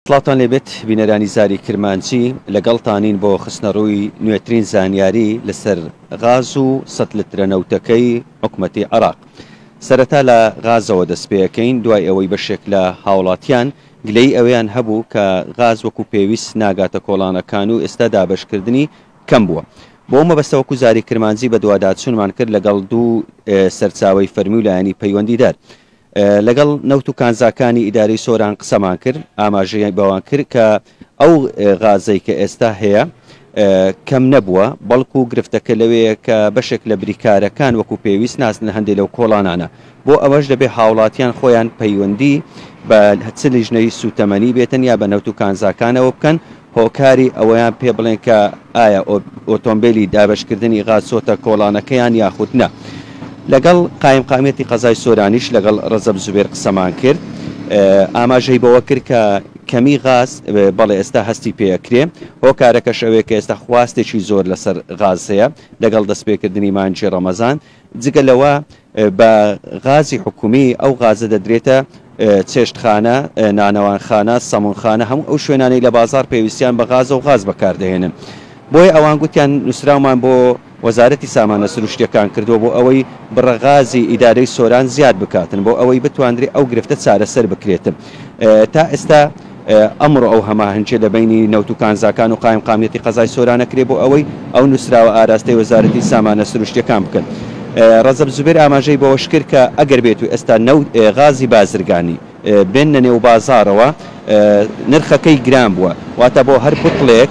سڵاوتان لێبێت بینەرانی زاری کرمانجی، لەگەڵتانین بۆ خستنەڕووی نوێترین زانیاری لەسەر غاز و سەد لترە نەوتەکەی حکومەتی عێراق. سەرەتا لە غازەوە دەستپێەکەین، دوای ئەوەی بەشێک لە هاوڵاتیان گلەیی ئەوەیان هەبوو کە غاز وەکو پێویست ناگاتە کۆڵانەکان و ئێستا دابەشکردنی کەم بووە. بۆ ئەو مەبەستە وەکو زاری کرمانجی بەدواداچونمان کرد لەگەڵ دوو سەرچاوەی فەرمی و لایەنی پەیوەندیدار. لەگەڵ نەوت و کانزاکانی ئیدارەی سۆران قسەمان کرد، ئاماژەی بەوان کرد کە ئەو غازەی کە ئێستا هەیە کەم نەبووە، بەڵکو گرفتەکە لەوێیە کە بەشێک لە بریکارەکان وەکو پێویست ناچنە هەندێ لەو کۆڵانانە، بۆ ئەوەش دەبێت هاوڵاتیان خۆیان پەیوەندی بە چ لیژنەی سوتەمەنی بێ تەنیا بە نەوت و کانزاکانەوە بکەن هۆکاری ئەوەیان پێ بڵێن کە ئایا ئۆتۆمبێلی دابەشکردنی غاز چۆتە کۆڵانەکەیان یاخود نا. لەگەڵ قایمقامیەتی قەزای سۆرانیش لەگەڵ رەجەب زوبێر قسەمان کرد. ئاماژەی بەوە کرد کە کەمی غاز بەڵێ ئێستا هەستی پێ ئەکرێ. هۆکارەکەش ئەوەیە کە ئێستا خواستێکی زۆر لەسەر غاز هەیە لەگەڵ دەستپێکردنی مانگی رەمەزان. جگە لەوە بە غازی حکومی، ئەو غازە دەدرێتە چێشتخانە، نانەوانخانە، سەمونخانە، هەموو ئەو شوێنانەی لە بازاڕ پێویستیان بە غازە و غاز بەکاردەهێنن. بۆیە ئەوان گوتیان نووسراومان بۆ وەزارەتی سامانە سروشتییەکان کردووە بۆ ئەوەی بڕە غازی ئیدارەی سۆران زیاد بکاتن بۆ ئەوەی بتواندرێ ئەو گرفتە چارەسەر بکرێتن. تا ئێستا ئەمڕۆ ئەو هەماهەنگیە لە بەینی نەوت و کانزاکان و قایمقامیەتی قەزای سۆران ئەکرێ بۆ ئەوەی ئەو نوسراوە ئاراستەی وەزارەتی سامانە سروشتیەکان بکەن. رەجەب زوبێر ئاماژەی بەوەشکرد کە ئەگەر بێت و ئێستا نەوت غازی بازرگانی بێننە نێو بازاڕەوە نرخەکەی گران بوە واتە بۆ هەر بوتڵێک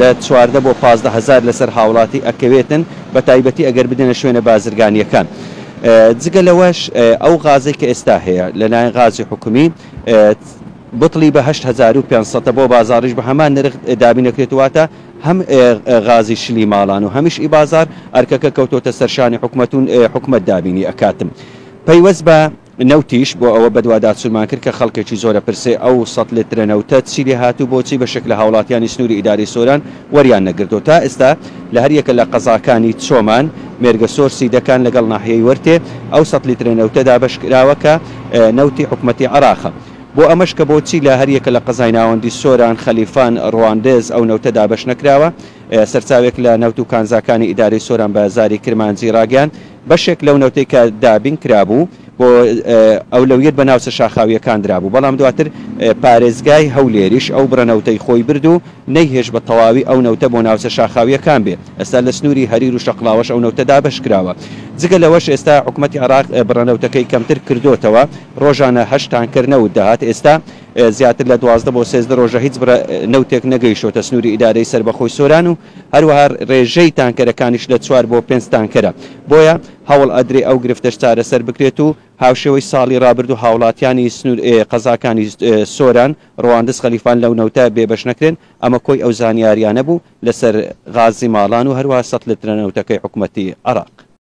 لە چواردە بۆ پازدە هەزار لەسەر هاوڵاتی ئەکەوێتن بەتایبەتی ئەگەر بدەنە شوێنە بازرگانیەکان جگە لەوەش ئەو غازەی کە ئێستا هەیە لەلایەن غازی حکومی بتڵی بە هەشت هەزار و پێنج سەد بۆ بازاڕیش بە هەمان نرخ دابین دەکرێت، واتە هەم غازی شلی ماڵان و هەمیش ئی بازاڕ ئەرکەکە کەوتۆتە سەر شانی حکومەت و حکومەت دابینی ئەکات. پەیوەست بە نەوتیش بۆ ئەوە بەدواداچونمان کرد کە خەڵکێکی زۆر ئەپرسێ ئەو سەد لترە نەوتە چی لێ هات و بۆچی بەشێک لە هاوڵاتیانی سنوری ئیدارەی سۆران وەریان نەگرتوە تا ئێستا لە هەر یەکە لە قەزاکانی چۆمان، مێرگەسۆر، سیدەکان لەگەڵ ناحیەی وەرتێ ئەو سەد لترە نەوتە دابەشکراوە کە نەوتی حکومەتی عێراقە. بۆ ئەمەش کە بۆچی لە هەر یەکە لە قەزای ناوەندی سۆران، خەلیفان، ڕواندز ئەو نەوتە دابەش نەکراوە، سەرچاوێک لە نەوت و کانزاکانی ئیدارەی سۆران بە زاری کرمانجی ڕاگەیاند، بەشێک لەو نەوتەی کە دابین کرابوو بۆ ئەولەویەت بە ناوچە شاخاوییەکان درابوو، بەڵام دواتر پارێزگای هەولێریش ئەو بڕە نەوتەی خۆی برد و نەیهێشت بە تەواوی ئەو نەوتە بۆ ناوچە شاخاوییەکان بێ، ئێستا لە سنووری هەریر و شەقڵاوەش ئەو نەوتە دابەش کراوە. جگە لەوەش ئێستا حکومەتی عێراق بڕە نەوتەکەی کەمتر کردۆتەوە، ڕۆژانە هەشت تانکەر نەوت دەهات، ئێستا زیاتر لە دوازدە بۆ سێزدە ڕۆژە هیچ بڕە نەوتێک نەگەیشتووەتە سنووری ئیدارەی سەربەخۆی سۆران و هەروەها ڕێژەی تانکەرەکانیش لە چوار بۆ پێنج تانکەرە، بۆیە هەوڵ ئەدرێ ئەو گرفتەش چارەسەر بکرێت و هاوشێوەی ساڵی ڕابردوو هاوڵاتیانی سنوور قەزاکانی سۆران، ڕواندز، خەلیفان لەو نەوتە بێبەش نەکرێن، ئەمە کۆی ئەو زانیاریانە بوو لەسەر غازی ماڵان و هەروەها سەتلترە نەوتەکەی حکومەتی عێراق.